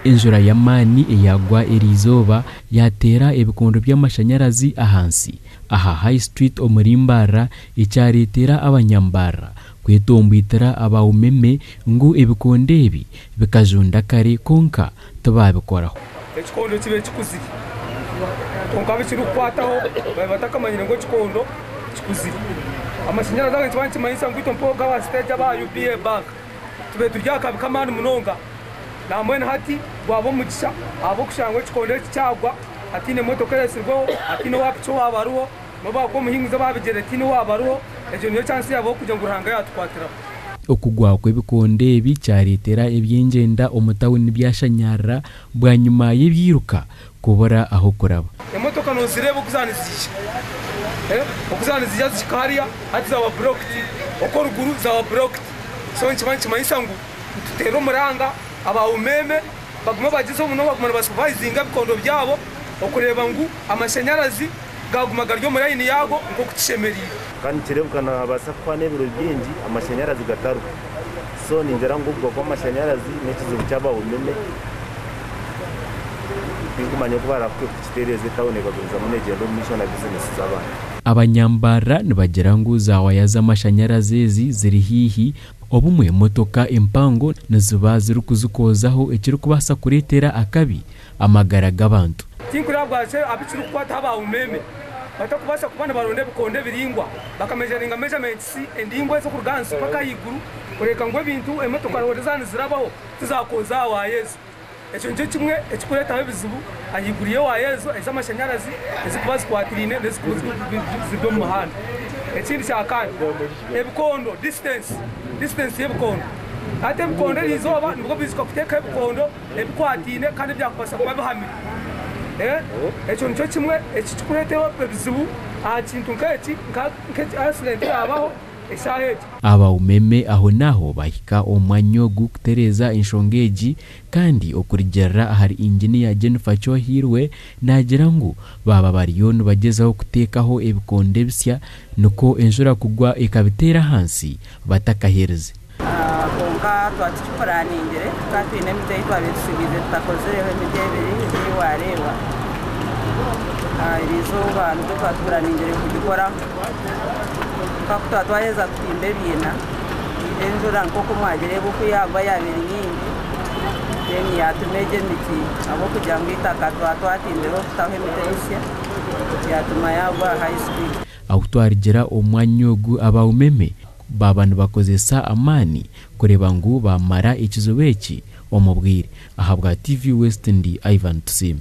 Enjura y'amaani eyagwa eri izooba yaateera ebikondo by'amashanyarazi ahansi aha High Street omuri Mbarara ekyareetera Abanyambarara kwetombwitira aba umeme ngu ebikondo ebi bikajunda kare kwonka tibaabikoraho. Ekikondo kibe kikuzire. Kwonka abu kirikukwataho babe batakamanyire ngu ekikondo kikuzire. Amashanyarazi aga nikiba nikimanyisa ngu itwe mpooga aba siteegi aba UBA banka tube turi aha kabi k'amaani munonga. Naambwenu hati gwaba omugisha ahabw'okushanga ngu ekikondo eki kyagwa hataine motoka ereetsirweho, hataine owa piki owaaba ariho, N'obu akuba omuhinguzi oba abigyere tihaine owaabarwaho, egyo niyo chansi yaabo y'okugira ngu Ruhanga yaatukwatiraho. Okugwa kw'ebikondo ebi kyareetera eby'engyenda omu tauni byashanyarara bwanyima y'ebiiruka kubura ah'okuraba. Emotoka noozireeba oku zaaba niziija, oku zaaba niziija zihika hariya, hati zaaba burooked, okwo ruguru zaaba burooked, so nikiba nikimanyisa ngu nituteera omuranga aba umeeme. Baguma bagyezaho munonga kuguma nibasupayizinga ebikondo byabo okureeba ngu amashanyarazi gaaguma gari omu layini yaago nk'oku kishemereire. Ka nikireebeka naabaasa kuhwaho n'ebiro bingi amashanyarazi gataruho. So ningira ngu okugwa kw'amashanyarazi n'ekizibu kyaba umeme. Tirikumanya oku barikukitereeza etauni ekagumizamu neegyenda omu maisho na bizinesi z'abantu. Abanyambarara nibagira ngu zaawaaya z'amashanyarazi ezi ziri haihi Obumwe motoka empango niziba zirikuzikoozaho ekirikubaasa kureetera akabi amagara g'abantu. Tinkuraabwa shi abu kirikukwataho aba umeeme batakubaasa kuba nibaronda ebikondo ebiraingwa bakamejaringa mejamentisi endaingwa ez'okuruga ahansi mpaka ahaiguru kureeka ngu ebintu, emotoka, roore zaaba nizirabaho tizakooza aha waaya ezo. Ekyo nikyo kimwe ekirikureetaho ebizibu ahaiguru y'ewaya ezo ez'amashanyarazi ezirikuba zikwataine n'ezirikuba ziri omu muhanda. Ekindi kya kane, ebikondo, disiitensi, distance y'ebikondo. Hati ebikondo erizooba nibwo biziika kuteekaho ebikondo ebikwataine kandi ebyakubaasa kuba bihamire. Ekyo nikyo kimwe ekirikureetaho ebizibu aha kintu nk'eki, nka asidenti yaabaho. eshaaha egi. Abaumeme ahonaaho baahika omu mwanya ogu kutereeza enshonga egi kandi okurigirira ahari Engineer Jennifer Kyohirwe naagira ngu baaba bariyo nibagyezaho kuteekaho ebikondo ebisya nikwo enshura kugwa ekabiteera ahansi batakaherize. Kwonka twaba tukipuraningire, twaba twine emiti ei twabaire tusigiize tutakozireho, emiti ebiri ei waareeba erizooba nikwo twaba tupuraningire kugikoraho. Kwonka ku twaba twaheza kutimba ebiina, enjura nk'oku mwagireeba oku yaagwa yaaba eri nyingi, then yaatuma egyo emiti ahabw'okugira ngu eitaka twaba twatimbireho kutaho emiti emisya, yaatuma yaagwa high speed. Ahu twarigira omu mwanya ogu, aba Umeme Baaba nibakozesa amaani kureeba ngu baamara ekizibu eki omu bwire. Ahabwa TV West ndi Ivan Tusiime.